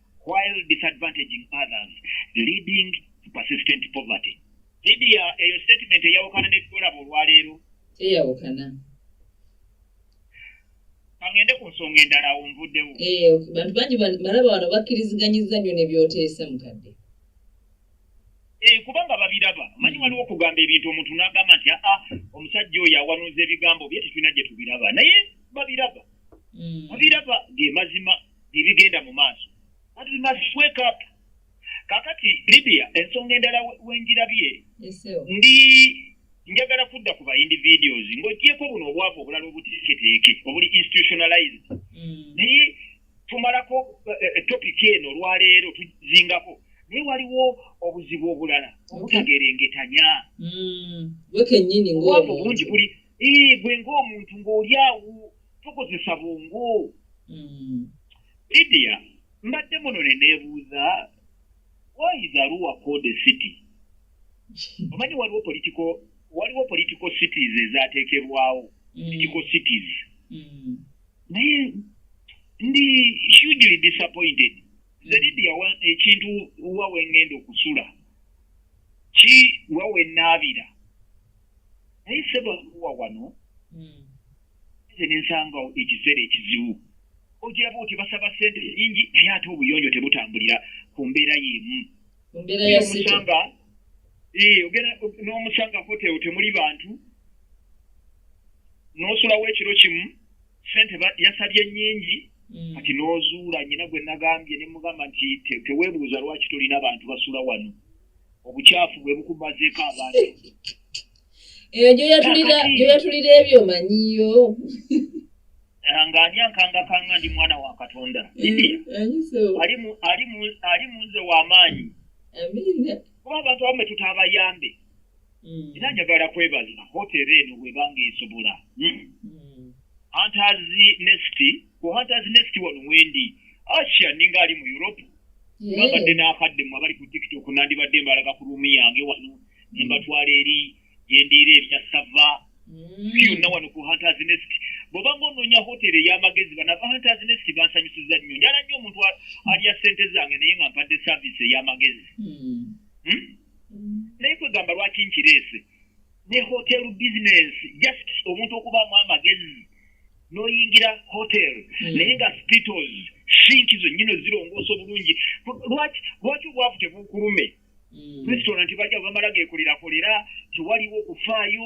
while disadvantaging others leading to persistent poverty lidia eyo statement eyawukana nebitolaba olwaleero eyawukana kangende ku nsonga endala awo nvuddewo eh, bantu bangi balaba wano bakkiriziganyizza nnyo nebyoteesa mukadde eh, kubanga babiraba manyi mm. waliwo okugamba ebintu omuntu nagamba nti aa ah, ah, omusajja oyo awanuuza ebigambo bye tetulina gye tubiraba naye babiraba mm. babiraba ge mazima ebigenda mu maaso but we must wake up kakati libya ensonga endala wenjirabye ndi njagala kudda ku bayindi videos ngaogyeko buno obwavu obulala obuteeketeeke obuli institutionalized mm. naye tumalako eh, eh, eh, topic eno olwaleero tuzingako naye waliwo obuzibu obulala obutagerengetanya mm. obwavu bungi buli gwe ngaomuntu ngaoli awo tukozesa bwongo mm. lidia mbadde muno ne neebuuza waizaruwa code city omanyi waliwo politiko waliwo politiko cities ezateekebwawo mm. politiko cities mm. naye ndi hugely disappointed nze lidia ekintu wa wengenda okusula ki wa wenaabira naye seba ruwa wano nze nensanga ekiseera ekizibu okiraba oti basaba sente nyingi naye ate obuyonjo tebutambulira ku mbeera yemu n'omusanga hotel temuli bantu n'osulawo ekiro kimu sente yasabye nyingi mm. kati n'ozuula nyina gwe nagambye ne mugamba nti teweebuuza lwaki tolina bantu basula wano obukyafu bwe bukumazeeko abantu eyo gyoyatulira ebyo manyiyo eh, nga ani ankangakanga ndi mwana wa katonda eh, ali munze w'amaanyi kuba abantu abamu betuta abayambe hmm. era njagala kwebaza hotero eno webanga esobola hmm. hmm. antazi nesti ku hunters nest wano mwendi asha ninga ali mu europe babadde n'akadde mu abali ku tiktok nandibadde mbalaga ku ruumi yange wano ne mbatwala eri gyendiira ebya sava mm. byonna wano ku hunters nest bwoba ngaonoonya hoteri ey'amagezi banava hunters nest bansanyusiza nnyo njala nnyo omuntu alya ssente zange naye nga mpadde saavisi ey'amagezi mm. hmm? naye kwegamba lwaki nkireese ne hotel business just omuntu okubaamu amagezi n'oyingira hotel hmm. naye nga spitos sinki zonnyino zirongoosa obulungi lwaki lwaki obwavu tebuukulume hmm. restaurant bajja bamala geekulirakulira tewaliwo okufaayo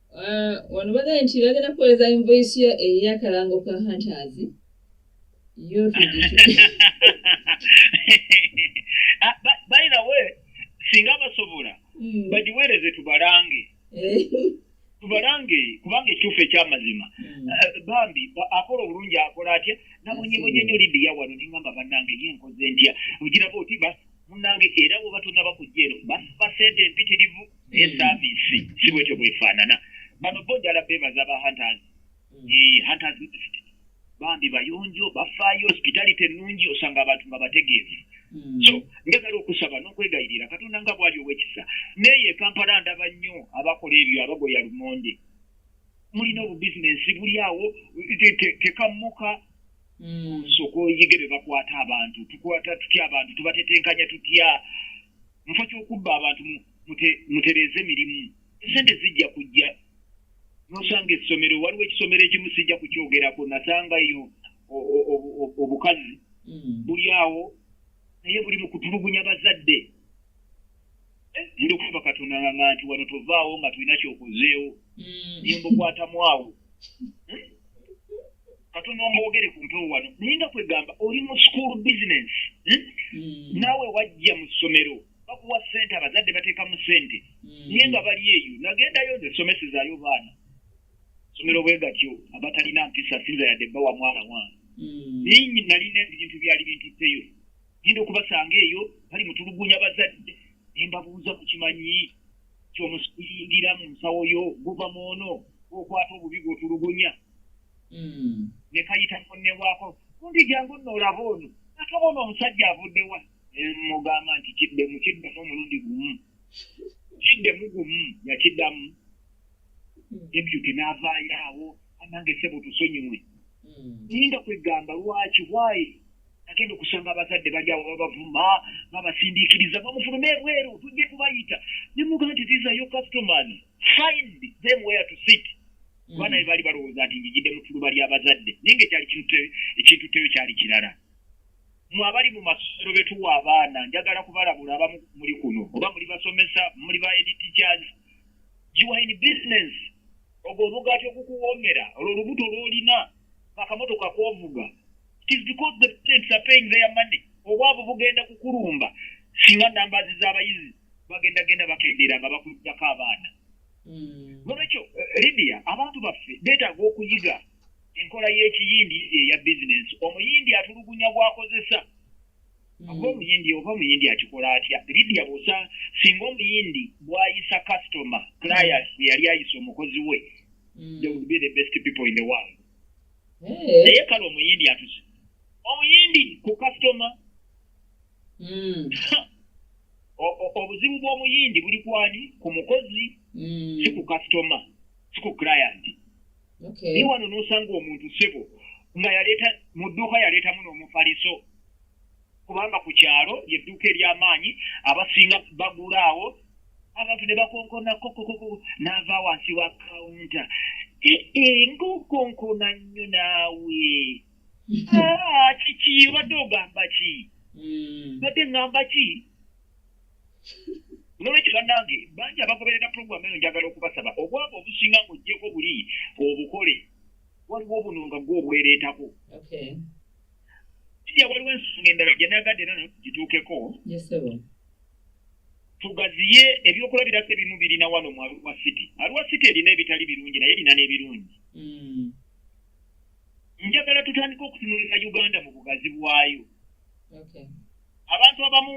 Ah, wano bagambye nti bagenda kuweereza invoice yo eyakalango ka hunters yo ah, by the way singa basobola hmm. bagiweereze tubalange eh. tubalange kubanga ekituufu ekyamazima hmm. ah, bambi akola obulungi akola atya nabonyebonye nyo lidiya wano nengamba banange ye nkoze ntya ogiraba oti munange era wobatonda bakujja eno basiba sente empitirivu naye hmm. saaviisi si bwekyo bwefaanana bano bo njala beebaza ba hunters hmm. eh, hunters bambi bayonjo bafaayo hospitality ennungi osanga abantu nga bategeevu hmm. so njagala okusaba n'okwegayirira katonda nga bwali owekisa naye ekampala ndaba nnyo abakola ebyo abagoya lumonde mulina obubizinensi buli awo tekammuka hmm. sooka oyige be bakwata abantu tukwata tutya abantu tubatetenkanya tutya mufa kyokubba abantu mutereeze mirimu esente zijja kujja nosanga essomero waliwo ekisomero ekimu sijja kukyogerako nasangayo obukazi hmm. buli awo naye buli mukutulugunya bazadde eh, ndi okuba katonda nga nti wano tovaawo nga tulina kyokozeewo hmm. nyembukwatamu awo hmm? katono mbogere ku mpewo wano naye nga kwegamba oli mu school business hmm? Hmm. naawe wajja mu ssomero bakuwa sente abazadde bateeka mu sente hmm. naye nga bali eyo nagendayo nze somesezayo baana somero bwe gatyo abatalina mpisa sinza yadde bawa mwana wange naye nalina ebintu byali bintutteyo genda okubasanga eyo bali mutulugunya bazadde nembabuuza ku kimanyi kyomusiyingira mu nsawo yo guva mwono okwata obubi gwotulugunya hmm. ne kayita kunnebwako kundi jangu nno olaba ono akabona omusajja avudde wa mugamba nti kidde mu kiddamu omulundi gumu kidde mu gumu yakiddamu hmm. deputy n'avaayo awo anange sebo tusonyiwe hmm. ninda kwegamba lwaki wayi agenda okusanga abazadde bali awo babavuma babasindiikiriza bamufulume ebweru tujja kubayita nemugamba nti these are your customers find them where to sit abaana be baali balowooza nti njijidde mu tuluba ly'abazadde naye nga ekyali ekintutteyo kyali kirala mwe abali mu masomero betuwa abaana njagala kubalabula abamu muli kuno oba muli basomesa muli ba editchars giwine business ogwo omugaati ogukuwoomera olwo olubuto lwolina akamotoka kwovuga tis because the parents are paying their money obwavu bugenda kukulumba singa nambazi z'abayizi bagendagenda bakendeera nga bakuddako abaana hmm. nolwekyo eh, lidia abantu baffe betaaga okuyiga enkola y'ekiyindi eya bizinensi omuyindi atulugunya gwakozesa hmm. oba omuyindi oba omuyindi akikola atya lidia busa singa omuyindi bwayisa customer client hmm. yali ayisa omukozi we they would be the best people in the world eh. naye kale omuyindi atuse omuyindi ku customer hmm. obuzibu bw'omuyindi buli kwani ku mukozi hmm. si ku kasitoma si ku client naye wano n'osanga omuntu sebo nga yaleeta mu dduuka yaleetamu n'omufaliso kubanga ku kyalo yedduuka ery'amaanyi abasinga bagula awo abantu ne bakonkona kokokoko n'ava wansi wa kawunta e, e, ngaokonkona nnyo naawe Ah, kiki obadde ogamba ki Mm. badde ŋŋamba ki nolwekyo bannange bangi abagoberera pulogulaamu eno njagala okubasaba obwavu obusinga ng'ogyeko buli obukole waliwo obuno nga gwe obwereetako Okay. kija waliwo ensonga endala gye nayagadde era nayo tugituukeko Yes, sir. tugaziye ebyokulabirako ebimu birina wano mu aluwa city aluwa city erina ebitali birungi naye erina n'ebirungi Mm. njagala tutandika okutunulira uganda mu bugazi bwayo abantu abamu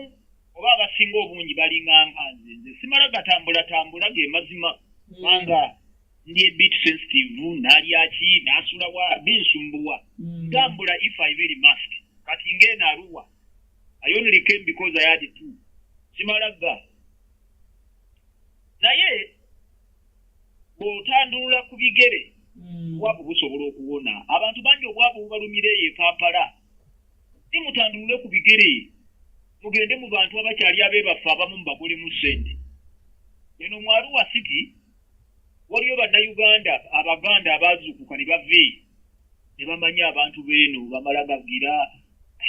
oba abasinga obungi balinganga nze nze simala gatambulatambula ge mazima hmm. kubanga ndi ebit sensitive nalyaki nasulawa binsumbuwa hmm. ntambula if i very must kati ngeeno aluwa i only came because i had two simala ga naye bw'otandulula ku bigere hmm. obwavu busobola okuwona abantu bangi obwavu bubalumira eyo ekampala si mutandulule ku bigere mugende mu bantu abakyali abeebaffe abamu mubagolemu ssente eno mwaluwa city waliyo bannayuganda abaganda abaazuukuka ne bava eyo ne bamanya abantu beeno bamala gagira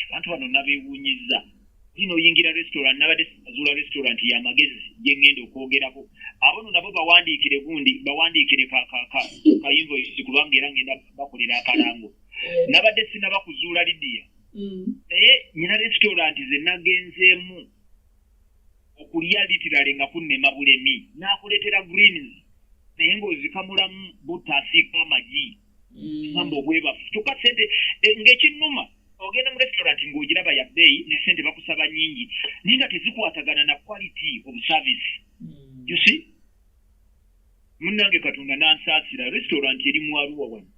abantu bano nabewunyiza zino oyingira restaurant nabadde azuula restaurant ya magezi gyengenda okwogerako abono nabo bawandiikire gundi bawandiikire kainvoisi kubanga era ngenda bakolera akalango eh. nabadde sinaba kuzuula lidiya mm. naye nyina restaurant zenagenzeemu okulya litirale nga kunnema bulemi nakuleetera greens naye ngaozikamulamu butasiika amagi amba mm. obwebafu kyokka sente eh, ngaekinnuma ogenda mu restaurant ng'ogiraba ya bbeeyi ne sente bakusaba nyingi naye nga tezikwatagana na quality of service mm. you see munnange katonda n'ansaasira restaurant eri mu aruwa wano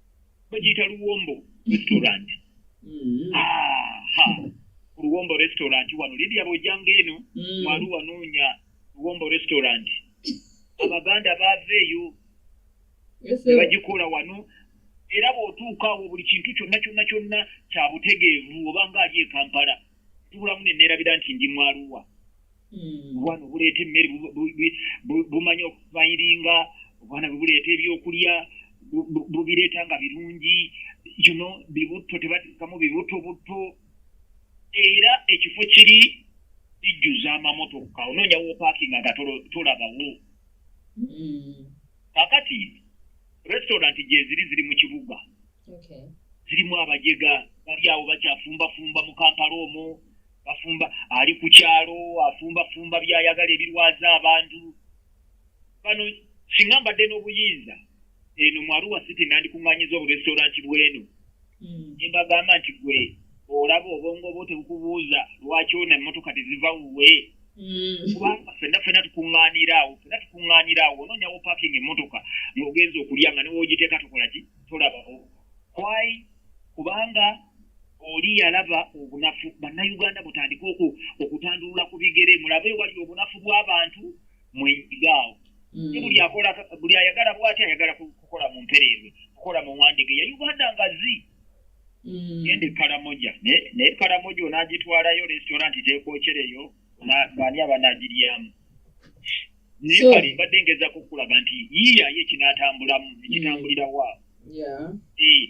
bagiyita luwombo restaurant mm. ah, luwombo restaurant wano lidia bojanga eno mu aruwa noonya luwombo restaurant abaganda baava eyo ne bagikola wano era bw'otuuka awo buli kintu kyonna kyonna kyonna kya butegeevu oba nga ali e kampala tubulamu ne neerabira nti ndi mwaluwa hmm. obwana obuleeta emmere bumanya okubayiringa obwana bwe buleeta ebyokulya bubireeta nga birungi yuno bibutto tebatekamu bibutto butto era ekifo kiri kijjuza amamotoka onoonya wopaakinga nga tolabawo hmm. kakati restaurant gyeziri ziri mu kibuga zirimu abajega bali awo bakyafumbafumba mu kampala omwo bafumba ali ku kyalo afumbafumba byayagala ebirwaza abantu bano singa mbadde n'obuyinza eno mwaruwa siti nandikuŋŋanyiza oburestoranti bw'eno nembagamba nti gwe olaba obwongo bwo tebukubuuza lwaki ona emmotoka teziva wuwe kubanga fenna fena tukuŋŋaanira awo fena tukuŋŋaanira awo onoonyawo parking emmotoka ng'ogenza okulya nga newogiteeka tokola ki tolabawo kwai kubanga oli yalaba obunafu bannayuganda mutandike okutandulula ku bigere mulabe wali obunafu bw'abantu mwesigaawo mm. si buli akola buli ayagala bwati ayagala kukola mu mpereerwe kukola mu wandige ya uganda nga zi mm. gende kalamoja naye kalamoja onagitwalayo restaurant tekwocereyo baani abanagiryamu naye kale mbadde ngeza kukulaga nti yiyayo ekinatambulamu ekitambulira mm. waabo eh,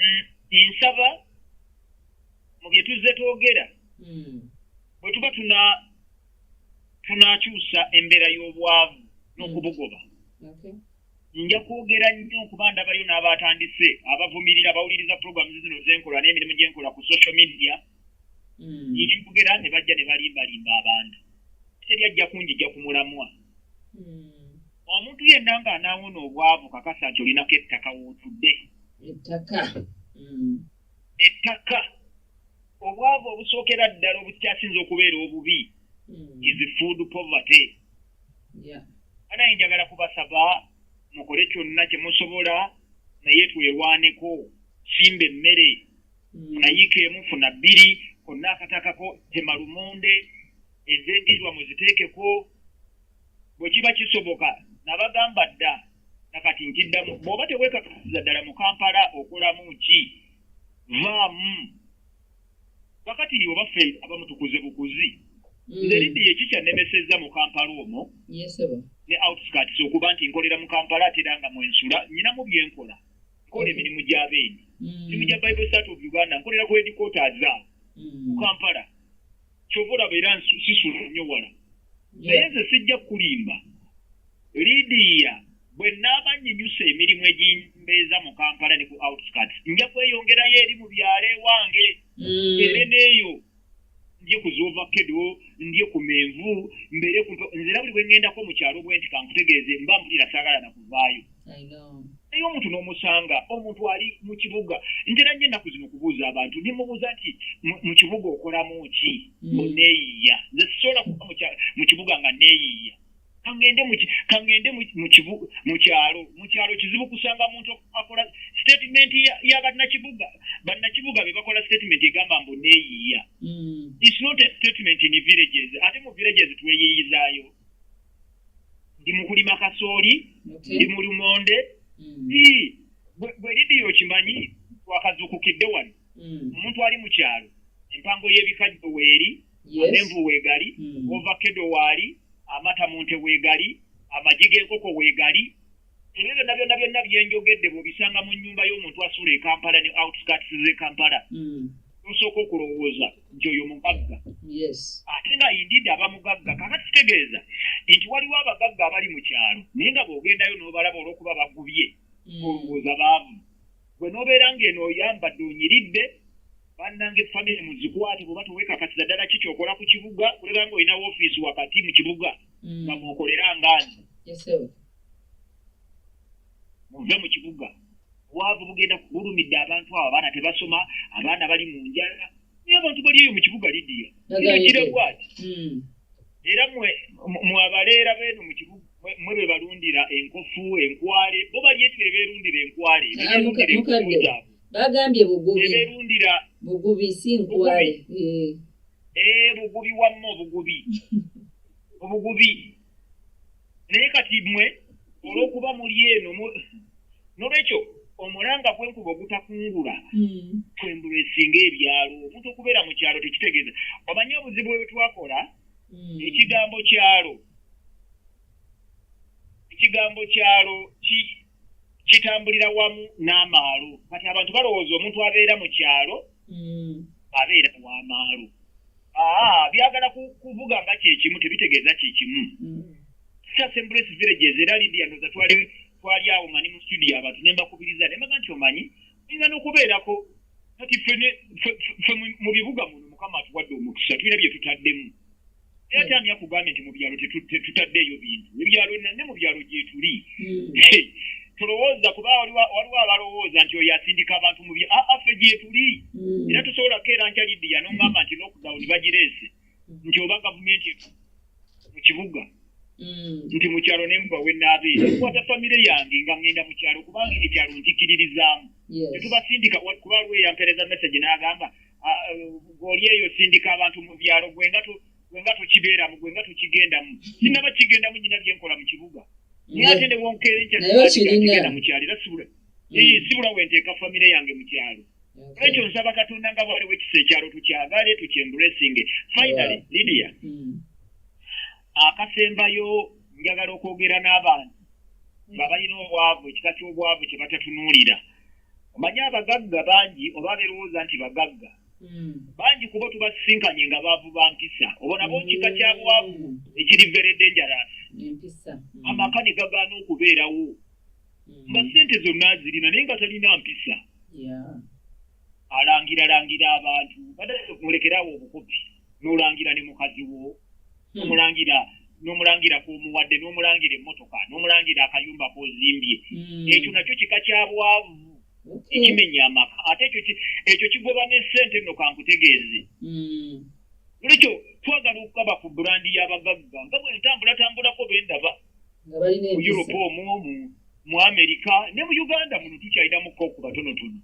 mm, nsaba mu bye tuzze twogera mm. bwe tuba tuna tunakyusa embeera y'obwavu n'okubugoba mm. nja kwogera nnyo okuba ndabayo n'abatandise abavumirira bawuliriza programu zino zenkola n'emirimu gyenkola ku social media mm. nkwogera ne bajja ne balimbalimba abantu teri ajja kunjija ku mulamwa mm. omuntu yenna nga anaawona obwavu kakasa nti olinako ettaka wootudde ettaka mm. ettaka obwavu obusookera ddala obukyasinza okubeera obubi mm. is food poverty anaye njagala kubasaba mukole kyonna kye musobola naye twewaaneko simba emmere mm. funayiika emu funa bbiri konna akatakako temalumonde ezendirwa muziteekeko bwe kiba kisoboka nabagamba dda nakati nkiddamu bw'oba teweekakasiza ddala mu kampala okolamu ki vaamu kakati oba ffe abamu tukuze bukuzi mm. nze lidde yeki kyannemesezza mu kampala omwo ne outskirts okuba nti nkolera mu kampala atera nga mwensula nyinamu byenkola nkola emirimu gy'abeeni mm. mirimu gya bible sat of uganda nkolera ku edikoota aza mm. mu kampala kyova olaba era sisula nnyo wala naye nze sijja kukulimba lidiya bwe naaba nyinyusa emirimu egimbeeza mu kampala ne ku outskirts nja kweyongerayo eri mu byalo ewange mm. ere neeyo ndye ku zovakedo ndye ku menvu mbeere nzera buli bwe ŋŋendako mu kyalo bwe nti kankutegeeze mba mpulira saagala na kuvaayo naye omuntu n'omusanga omuntu ali mu kibuga ntera nyo ennaku zino okubuuza abantu nemubuuza nti mu kibuga okolamu ki mm. oneeyiiya nze sisobola kuba mu kibuga nga neeyiiya kangende kangende mukyalo mukyalo kizibu kusanga muntu akola statement ya bannakibuga bannakibuga be bakola statement egamba mbu neeyiiya mm. its not a statement in villages ate mu villages tweyiiyizayo ndi mu kulima kasooli ndi mu lumonde mm. bwe lidiyo okimanyi twakazuukukidde wano mm. omuntu ali mu kyalo empango y'ebikajjo weeri amenvu weegali mm. ovakedo waali amata mu nte weegali amagi g'enkoko weegali ebyo byonna byonna byonna byenjogedde bwobisanga mu nyumba y'omuntu asuula ekampala ne outskirts ze kampala hmm. nosooka okulowooza nti oyo mugagga ate nga indidi aba mugagga kaka kitegeeza nti waliwo abagagga abali mu kyalo naye nga bwogendayo n'obalaba olwokuba bagubye hmm. olowooza baavu gwe nobeera ngaeno oyambadde onyiridde bannange famire muzikwate bwoba tewekakasiza ddala ki kyokola ku kibuga kuleka nga olina wofiisi wakati mu kibuga hmm. nga mwokolera ngaani muve mu kibuga obwavu bugenda bulumidde abantu abo abaana tebasoma abaana bali mu njala naye abantu bali eyo mu kibuga lidiya kigire bwati hmm. era mwabaleera beeno mu kibuga mwe be balundira enkofu enkwale bo bali eti beberundira enkwale ah, bagambye bugubiberundira bugubi si nkwale ee eh. eh, bugubi wamma obugubi obugubi naye kati mwe olwokuba muli eno nolwekyo omulanga gwenkuba ogutakungula hmm. twembula esinga ebyalo omuntu okubeera mu kyalo tekitegeeza omanye obuzibu bwebwetwakola hmm. ekigambo kyalo ekigambo kyalo kitambulira wamu n'amaalo kati abantu balowooza omuntu abeera mu kyalo mm. abeera wamaalo ah, byagala kuvuga nga kyekimu tebitegeeza kyekimu mm. sasembres villages era lidianoza twali twali awo nga ni mu studio abantu ne mbakubiriza ne mbaga nti omanyi oyinza n'okubeerako kati fe mu bibuga muno mukama atuwadde omukisa tulina bye tutaddemu naye ate ani akugambye nti mu byalo tetutaddeeyo bintu ebyalo ne mu byalo gyetuli hmm. tulowooza kuba waliwo abalowooza nti oyo asindika abantu mu bya affe gyetuli hmm. era tusobola kukeera nkya lidiya nongamba nti lockdown bagireese hmm. nti oba gavumenti mu kibuga nti mu kyalo nembuga wenaabeera kukwata famire yange nga ŋŋenda mu kyalo kubanga ekyalo nkikiririzaamu tetubasindika kuba lweyampereza message n'agamba goli eyo sindika abantu mu byalo gwe nga gwe nga tokibeeramu gwe nga tokigendamu sinaba kigendamu nyina byenkola mu kibuga naye ate ne wonkeera enkyatigenda mu kyalo era sibula mm. sibula wenteeka famire yange mu kyalo ekyo nsaba katonda nga bwaliwo ekisa ekyalo tukyagale tukyembulesinge finally lidia mm. akasembayo njagala okwogera n'abantu nga balina obwavu ekika ky'obwavu kye batatunuulira omanyi abagagga bangi oba berowooza nti bagagga hmm. bangi kuba tubasisinkanye nga baavu ba mpisa obo nabo kika kya bwavu ekiri very dangerous hmm. amaka ne gagaana okubeerawo hmm. nga ssente zonna azirina naye nga talina mpisa alangiralangira abantu badde mulekerawo obukubi n'olangira ne mukazi wo hmm. nomulangira nomulangira kwomuwadde nomulangira emmotoka nomulangira akayumba kozimbye hmm. ekyo nakyo kika kyabwavu ekimenya amaka ate ekyo kigoba ne sente no kankutegeeze hmm. olwekyo twagala okukaba ku burandi y'abagagga nga bwe ntambulatambulako bendaba mu europe omu omu mu amerika ne mu uganda muno tukyalinamuko okubatonotono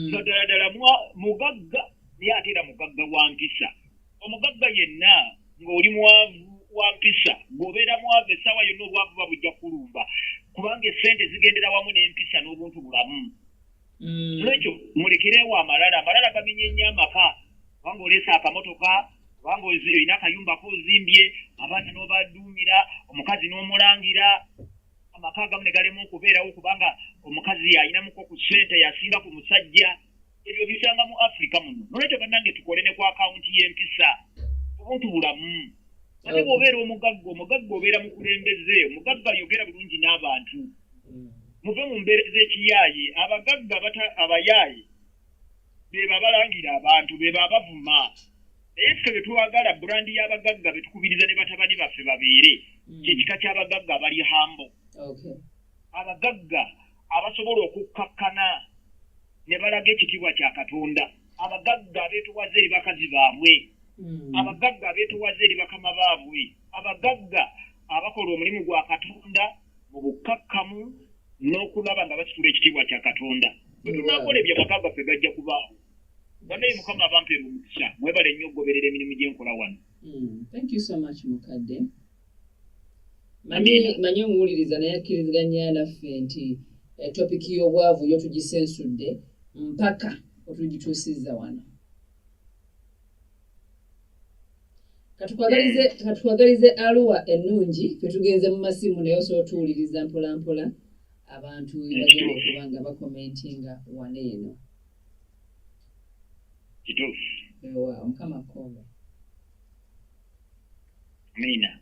nga ddala ddala mugagga naye ate era mugagga wa mpisa omugagga yenna ng'oli mwavu wa mpisa ng'obeera mwavu essaawa yonna obwavu ba bujja kulumba kubanga essente zigendera wamu n'empisa n'obuntu bulamu mm. nolwekyo mulekerewo amalala amalala gamenye nnyo amaka kubanga oleesa akamotoka kubanga olina akayumbako ozimbye abaana n'obaduumira omukazi n'omulangira amaka agamu ne galema okubeerawo kubanga omukazi yalinamuko ku ssente yasinga ku musajja ebyo bisanga mu africa muno nolwekyo banange tukole ne ku akawunti y'empisa obuntu bulamu ate bwobeera omugagga omugagga obeera mukulembeze omugagga yogera bulungi n'abantu mm. muve mu mbeera z'ekiyaaye abagagga abayaaye beba balangira abantu beba abavuma naye ffe betwagala burandi y'abagagga betukubiriza ne batabani baffe babeere mm. kyekika ky'abagagga abali hambo abagagga abasobola okukkakkana ne balaga ekitiibwa kya katonda abagagga abeetowaza eri bakazi baabwe hmm. abagagga abeetowaza eri bakama baabwe abagagga abakola omulimu gwa katonda mu bukkakkamu n'okulaba nga basitula ekitiibwa kya katonda bwetunakola ebyo amaka gaffe gajja kubaawo banaye mukama abampeera omukisa mwebale nnyo okugoberera emirimu gyenkola wano hmm, thank you so much mukadde manyi omuwuliriza naye akkiriziganya naffe nti eh, topiki y'obwavu yo tugisensudde mpaka otugituusizza wano katukwagalize aluwa ennungi fetugenze mu masimu naye osobola otuwuliriza mpolampola abantu bagenda okuba nga bakomentinga wano eno kituufu mukama kkobe Amina.